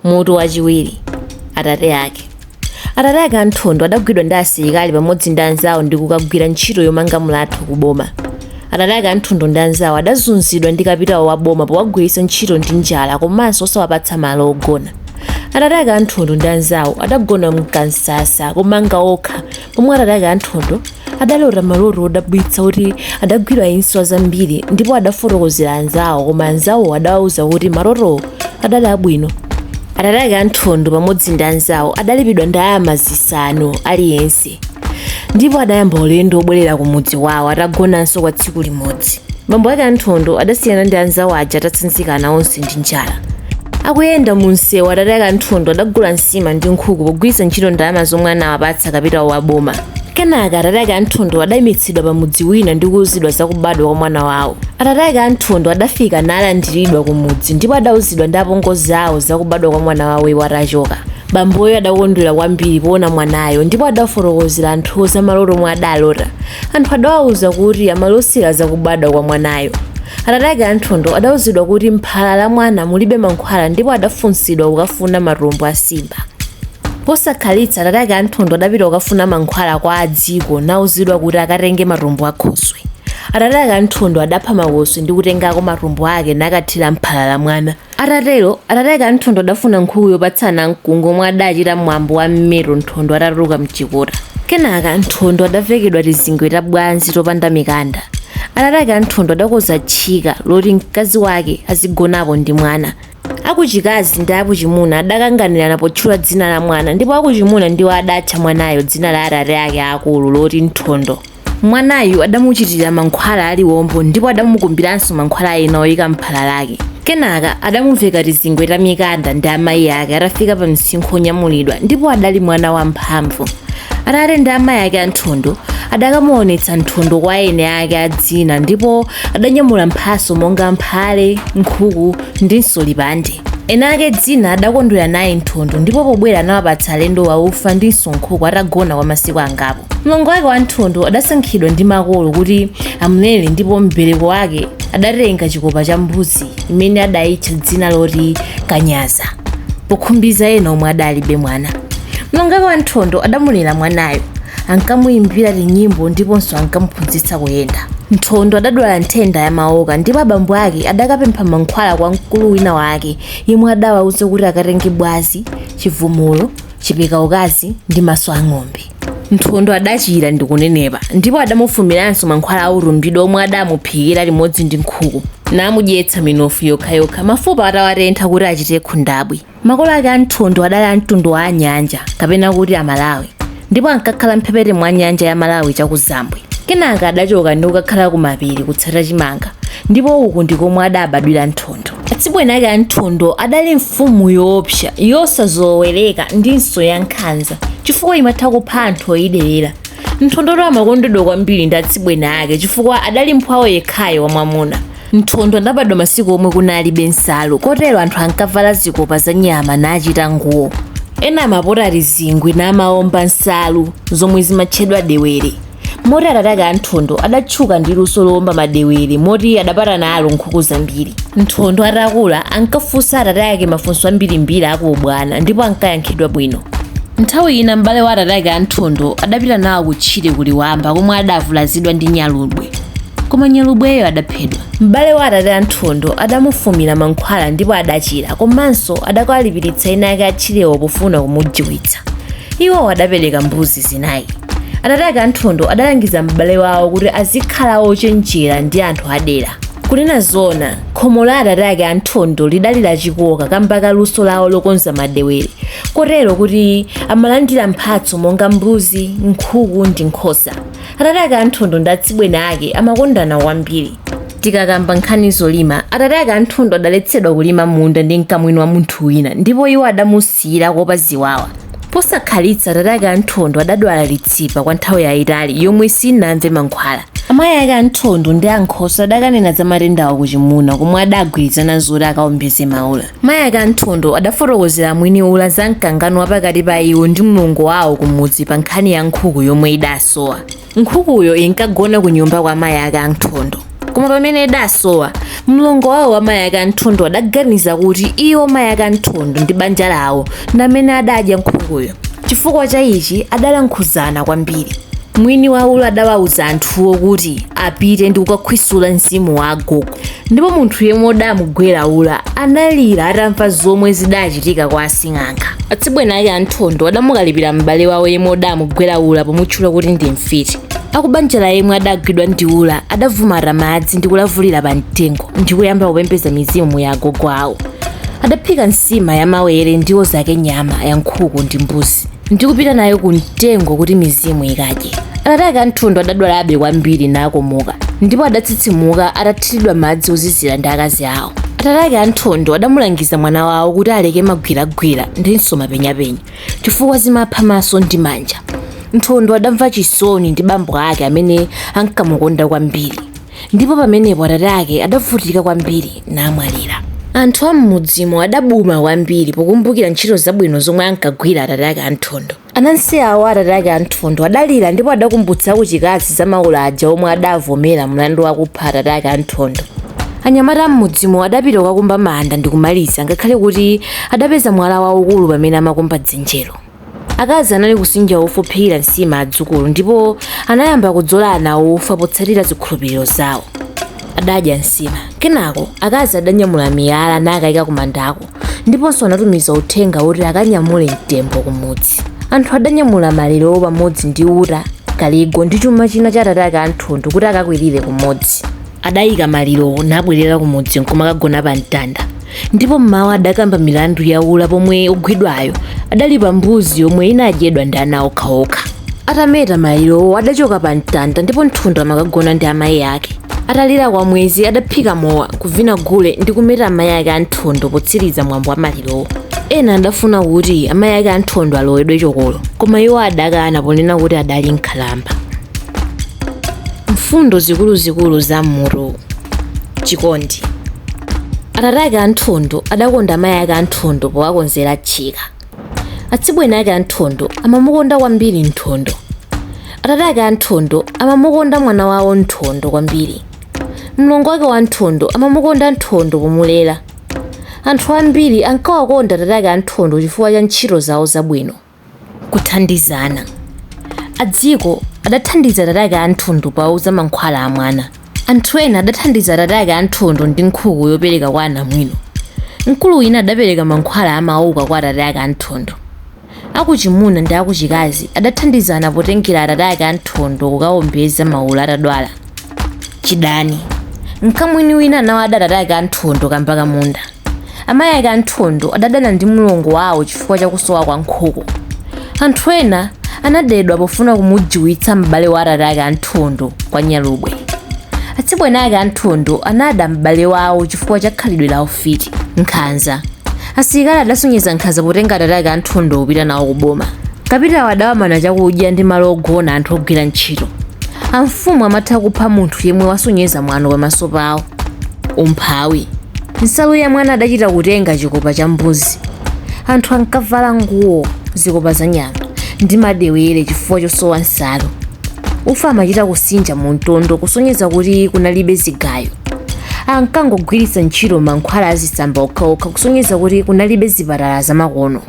mutu wachiwiri atate ake atate ake a nthondo adagwidwa ndi asilikali pamodzi ndi anzawo ndi kukagwira ntchito yomanga mlatho ku boma atate ake a nthondo ndi anzawo adazunzidwa ndi kapitawo wa boma powagwiritsa ntchito ndi njala komanso osawapatsa malo ogona atate ake a nthondo ndi anzawo adagona mkansasa yomanga okha pomwe atate ake a nthondo adalota maloto odabwitsa kuti adagwira inswa zambiri ndipo adafotokozera anzawo koma anzawo adawauza kuti malotowo adali abwino atate ake a nthondo pamodzi ndi anzawo adalipidwa ndalama zisanu aliyense ndipo adayamba ulendo wobwerera ku mudzi wawo atagonanso kwa tsiku limodzi bambo ake a nthondo adasiyana ndi anzawo aja atatsanzikana onse ndi njala akuyenda mu msewu atate ake anthondo adagula nsima ndi nkhuku pogwiritsa ntchito ndalama zomwe anawapatsa kapitawo wa boma kenaka atate ake anthondo adayimitsidwa pa mudzi wina ndi kuwuzidwa za kubadwa kwa mwana wawo atate ake anthondo adafika nalandiridwa ku mudzi ndipo adawuzidwa ndi apongozi awo za kubadwa kwa mwana wawo iwo atachoka bamboyo adakondwera kwambiri poona mwanayo ndipo adafotokozera anthu za maloto omwe adalota anthu adawauza kuti amalosera za kubadwa kwa mwanayo Atate ake a Nthondo adauzidwa kuti m'phala la mwana mulibe mankhwala ndipo adafunsidwa kukafuna matumbo a simba. Posakhalitsa atate ake a Nthondo adapita kukafuna mankhwala kwa a Dziko nauzidwa kuti akatenge matumbo a khoswe. Atate ake a Nthondo adapha makoswe ndi kutengako matumbo ake nakathira m'phala la mwana. Atatero, atate ake a Nthondo adafuna nkhuku yopatsa anamkungwi omwe adachita mwambo wa mmeto Nthondo atatuluka m'chikota. Kenaka, Nthondo adavekedwa tizingwe ta bwazi topanda mikanda. Atate ake a Nthondo adakonza tchika loti mkazi wake azigonapo ndi mwana. Akuchikazi ndi akuchimuna adakanganirana potchula dzina la mwana ndipo akuchimuna ndiwo adatcha mwanayo dzina la atate ake aakulu loti Nthondo. mwanayu adamuchitira mankhwala aliwombo ndipo adamukumbiranso mankhwala ena oyika m'phala lake kenaka adamuveka tizingwe ta mikanda ndi amayi ake atafika pa msinkhu onyamulidwa ndipo adali mwana wamphamvu atate ndi amayi ake anthondo adakamuonetsa nthondo kwa eni ake a dzina ndipo adanyamula mphatso monga mphale nkhuku ndinso lipande eni ake dzina adakondwera naye nthondo ndipo pobwera anawapatsa alendowa ufa ndinso nkhuku atagona kwa masiku angapo mlongo wake wa nthondo adasankhidwa ndi makolo kuti amulere ndipo mbereko wake adatenga chikopa cha mbuzi imene adayitcha dzina loti kanyaza pokhumbiza ena omwe adalibe mwana mlongo wake wa nthondo adamulera mwanayo ankamuyimbira tinyimbo ndiponso ankamuphunzitsa kuyenda nthondo adadwala nthenda ya maoka ndipo abambo ake adakapempha mankhwala kwa mkulu wina wake yemwe adawauza kuti akatenge bwazi chivumulo chipeka ukazi ndi maso a ng'ombe nthondo adachira ndi kunenepa ndipo adamufumiranso mankhwala a utumbidwa omwe adamuphikira limodzi ndi nkhuku namudyetsa minofu yokhayokha mafupa atawatentha kuti achite khundabwi makolo ake a nthondo adali a mtundu wa anyanja kapena kuti amalawi ndipo ankakhala mphepete mwa nyanja ya malawi chakuzambwe kenaka adachoka ndi kukakhala kumapiri kutsata chimanga ndipo uku ndi komwe adabadwira nthondo Atsibweni ake a Nthondo adali mfumu yoopsa, yosazowereka ndinso yankhanza chifukwa imatha kupha anthu oyiderera. Nthondotu amakondedwa kwambiri ndi atsibweni ake chifukwa adali mphwawo yekhayo wamwamuna. Nthondo adabadwa masiku omwe kunalibe nsalu kotero anthu ankavala zikopa za nyama nachita nguwo. Ena amapota tizingwe namaomba nsalu zomwe zimatchedwa dewere. moti atate ake a nthondo adatchuka ndi luso lowomba madewere moti adapata nalo nkhuku zambiri nthondo atakula ankafunsa atate ake mafunso ambirimbiri akuubwana ndipo ankayankhidwa bwino nthawi ina m'bale wa atate ake a nthondo adapita nawo kutchire kuliwamba komwe adavulazidwa ndi nyalubwe koma nyalubweyo adaphedwa m'bale wa atate a nthondo adamufumira mankhwala ndipo adachira komanso adakawalipiritsa eni ake a tchirewo pofuna kumujiwitsa iwowo adapereka mbuzi zinayi atate ake a nthondo adalangiza m'bale wawo kuti azikhala ochenjera ndi anthu adera kunena zoona khomo la atate ake a nthondo lidali lachikoka kamba ka luso lawo lokonza madewere kotero kuti amalandira mphatso monga mbuzi nkhuku ndi nkhosa atate ake a nthondo ndi atsibweni ake amakondana kwambiri tikakamba nkhani zolima atate ake a nthondo adaletsedwa kulima munda ndi mkamwini wa munthu wina ndipo iwo adamusi Siyira kuopa ziwawa. Posakhalitsa atate ake a Nthondo adadwala litsipa kwa nthawi yayitali yomwe sinamve mankhwala. Amayi ake a Nthondo ndi ankhoswe adakanena za matendawa kuchimuna komwe adagwirizana zoti akaombeze maula. Mayi ake a Nthondo adafotokozera mwini ula za mkangano wa pakati pa iwo ndi mlongo wawo kumudzi pa nkhani ya nkhuku yomwe idasowa. Nkhukuyo inkagona ku nyumba kwa mayi ake a Nthondo. Koma pamene idasowa, mlongo wawo wa mayi ake a Nthondo adaganiza kuti iwo mayi ake a Nthondo ndi banja lawo ndi amene adadya nkhukuyo. Chifukwa cha ichi adalankhuzana kwambiri. Mwini wa ula adawauza anthuwo kuti apite ndi kukakhwisula mzimu wa agogo. ndipo munthu yemwe udamugwera ula analira atamva zomwe zidachitika kwa asing'anga atsibweni ake anthondo adamukalipira m'bale wawo yemwe udamugwera ula pomutchula kuti ndi mfiti akubanja la yemwe adagwidwa ndi ula adavumata madzi ndi kulavulira pa mtengo ndi kuyamba kupembedza mizimu ya agogo awo adaphika nsima ya mawere ndiwo zake nyama ya nkhuku ndi mbuzi ndi kupita nayo ku mtengo kuti mizimu ikadye. Atate ake a Nthondo adadwalabe kwambiri nakomoka ndipo adatsitsimuka atathiridwa madzi ozizira ndi akazi awo. Atate ake a Nthondo adamulangiza mwana wawo kuti aleke magwiragwira ndinso mapenyapenya chifukwa zimapha maso ndi manja. Nthondo adamva chisoni ndi bambo ake amene ankamukonda kwambiri. Ndipo pamenepo atate ake adavutika kwambiri, namwalira. Anthu a m'mudzimo adabuma kwambiri pokumbukira ntchito zabwino zomwe ankagwira atate ake a Nthondo. Anansi awo a atate ake a Nthondo adalira ndipo adakumbutsa akuchikazi za maula aja omwe adavomera mlandu wakupha atate ake a Nthondo. Anyamata a m'mudzimo adapita kukakumba manda ndi kumaliza ngakhale kuti adapeza mwala waukulu pamene amakumba dzenjelo. Akazi anali kusinja ufa ophikira nsima adzukulu ndipo anayamba kudzola ana awo ufa potsatira zikhulupiriro zawo. Adadya nsima. Kenako, akazi adanyamula miyala nakaika kumandako ndiponso anatumiza uthenga woti akanyamule mtembo kumudzi. Anthu adanyamula malirowo pamodzi ndi uta, kaligo ndi chuma china cha atate ake a Nthondo kuti akakwirire kumodzi. Adaika malirowo nabwerera kumudzi n'kumakagona pamtanda. ndipo mmawa adakamba milandu ya ula pomwe ogwidwayo adalipa mbuzi yomwe inadyedwa ndi ana okhaokha atameta malirowo adachoka pa mtanda ndipo nthondo amakagona ndi amayi ake atalira kwa mwezi adaphika mowa kuvina gule ndi kumeta amayi ake a nthondo potsiriza mwambo wa malirowo ena adafuna kuti amayi ake a nthondo alowedwe chokolo koma iwo adakana ponena kuti adali nkhalamba mfundo zikuluzikulu za mmutu chikondi atate ake a Nthondo adakonda amayi ake a Nthondo powakonzera tchika atsibweni ake a Nthondo amamukonda kwambiri Nthondo atate ake a Nthondo amamukonda mwana wawo Nthondo kwambiri mlongo wake wa Nthondo amamukonda Nthondo pomulera anthu ambiri ankawakonda atate ake a Nthondo chifukwa cha ntchito zawo zabwino kuthandizana. Adziko adathandiza atate ake a Nthondo powauza mankhwala a mwana. Anthu ena adathandiza atate ake a Nthondo ndi nkhuku yopereka kwa anamwino. Mkulu wina adapereka mankhwala a mauka kwa atate ake a Nthondo. Akuchimuna ndi akuchikazi adathandizana potengera atate ake a Nthondo kukawombeza maula atadwala. Chidani. Mkamwini wina anawada atate ake a Nthondo kamba ka munda. amayi ake a Nthondo adadana ndi mlongo wawo chifukwa cha kusowa kwa nkhuku. Anthu ena anadedwa pofuna kumujiwitsa m'bale wa atate ake a Nthondo kwa nyalubwe. Atsibweni ake a Nthondo anada m'bale wawo chifukwa cha khalidwe la ufiti. Nkhanza. Asilikali adasonyeza nkhanza potenga atate ake a Nthondo kupita nawo ku boma. Kapitawo adawamana chakudya ndi malo ogona anthu ogwira ntchito. Amfumu amatha kupha munthu yemwe wasonyeza mwano pamaso pawo. umphawi nsalu ya mwana adachita kutenga chikopa cha mbuzi anthu ankavala nguwo zikopa za nyama ndi madewere chifukwa chosowa nsalu ufa amachita kusinja mu mtondo kusonyeza kuti kunalibe zigayo ankangogwiritsa ntchito mankhwala azisamba okhaokha kusonyeza kuti kunalibe zipatala zamakono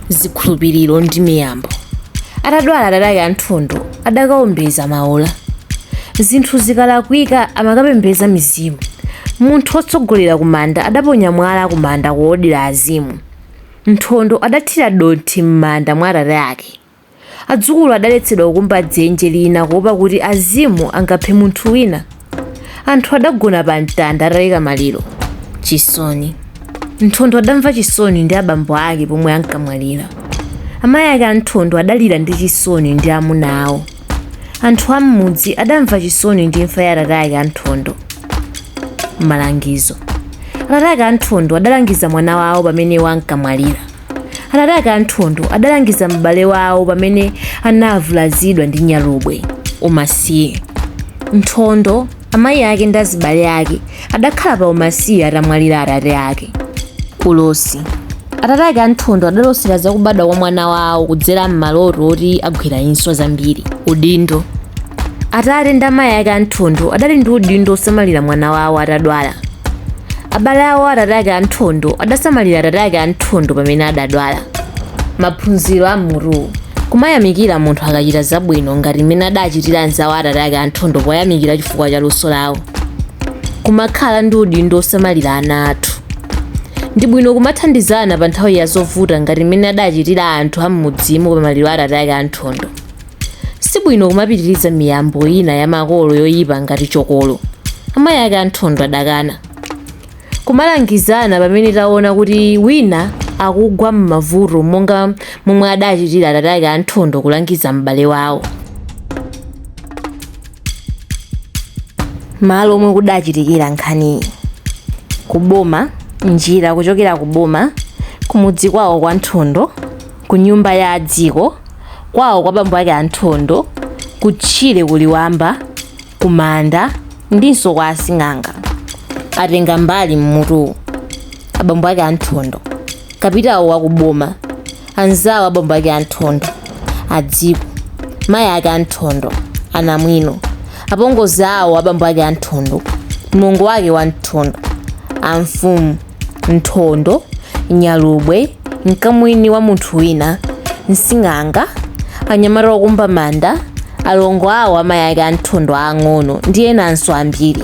zikhulupiriro ndi miyambo atadwala atate ake a Nthondo adakaombeza maula zinthu zikalakwika amakapembeza mizimu munthu wotsogolera kumanda adaponya mwala kumanda kuodira azimu nthondo adathira dothi m'manda mwa atate ake Adzukulu adaletsedwa kukumba dzenje lina kuwopa kuti azimu angaphe munthu wina. Anthu adagona pa mtanda ataika maliro. Chisoni. Nthondo adamva chisoni ndi abambo ake pomwe ankamwalira. Amayi ake a Nthondo adalira ndi chisoni ndi amuna awo. Anthu a m'mudzi adamva chisoni ndi imfa ya atate ake a Nthondo. Malangizo. Atate ake a Nthondo adalangiza mwana wawo pamene iwo ankamwalira. Atate ake a Nthondo adalangiza m'bale wawo pamene anavulazidwa ndi nyalubwe. Umasiye. Nthondo, amayi ake ndi azibale ake adakhala pa umasiye atamwalira atate ake. Ulosi. Atate ake a Nthondo adalosera za kubadwa kwa mwana wawo kudzera m'maloto oti agwira inswa zambiri. Udindo. Atate ndi amayi ake a Nthondo adali ndi udindo wosamalira mwana wawo atadwala. abale awo atate ake a Nthondo adasamalira atate ake a Nthondo pamene adadwala maphunziro a m'mutuwu kumayamikira munthu akachita zabwino ngati mmene adachitira anzawo atate ake a Nthondo poyamikira chifukwa cha luso lawo kumakhala ndi udindo osamalira ana athu ndi bwino kumathandizana pa nthawi ya zovuta ngati mmene adachitira anthu a m'mudzimo pa maliro a atate ake a Nthondo si bwino kumapitiriza miyambo ina ya makolo yoyipa ngati chokolo amayi ake a Nthondo adakana kumalangizana pamene taona kuti wina akugwa m'mavuto monga momwe adachitira atate ake a Nthondo kulangiza m'bale wawo malo omwe kudachitikira nkhaniyi kuboma njira kuchokera kuboma kumudzi kwawo kwa nthondo ku nyumba ya adziko, kwawo kwa bambo ake a Nthondo, ku tchire ku Liwamba, ku manda ndinso kwa asing'anga. Atengambali m'mutuwu, abambo ake a Nthondo, kapitawo wa ku boma, anzawo a bambo ake a Nthondo, adziko, mayi ake a Nthondo, anamwino, apongozi awo a bambo ake a Nthondo, mlongo wake wa Nthondo, amfumu, Nthondo, nyalubwe, mkamwini wa munthu wina, msing'anga, anyamata okumba manda, alongo awo a mayi ake a Nthondo aang'ono ndi enanso ambiri.